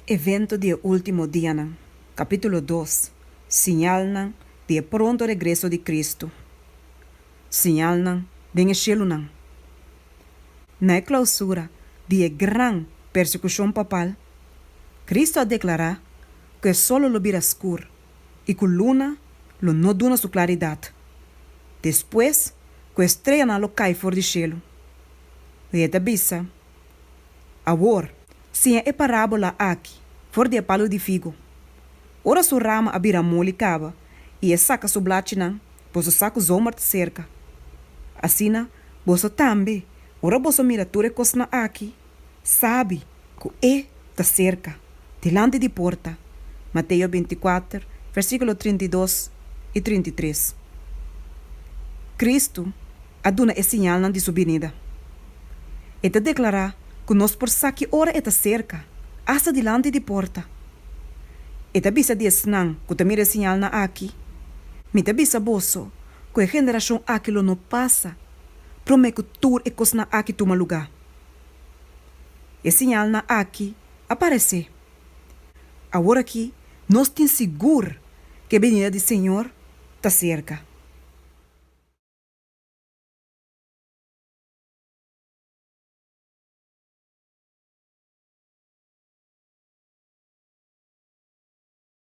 Evento di e ultimo dianan, capítulo dos, Siñalnan di e pronto regreso di Cristo, Siñalnan den e cielunan. Na e clausura di e gran persecucion papal, Cristo a declara cu e solo lo bira scur y cu luna lo no duna su claridad, despues cu e streanan lo cay for di cielo. Ey a ta bisa Awor, siña e parábola aki for di e palu di figu. Ora su rama a bira moli kaba i e saka su blachinan, boso sa ku zomber ta serka. Asina boso tambe, ora boso mira tur e kosnan aki, sabi ku e ta serka. dilanti di porta. Mateo binticuater, versículo trinta i dos i trinta i tres. Cristo a duna e siñalnan di su binida. E ta declará cu nos por sa ki ora e ta cerca, asta dilanti di porta. E ta bisa di esnan cu ta mira e siñalnan aki, Mi ta bisa boso cu e generacion aki lo no pasa promé cu tur e cosnan aki tuma lugá. E siñalnan aki a paresé. Awor akí nos tin sigur ku e benida di Señor ta serka.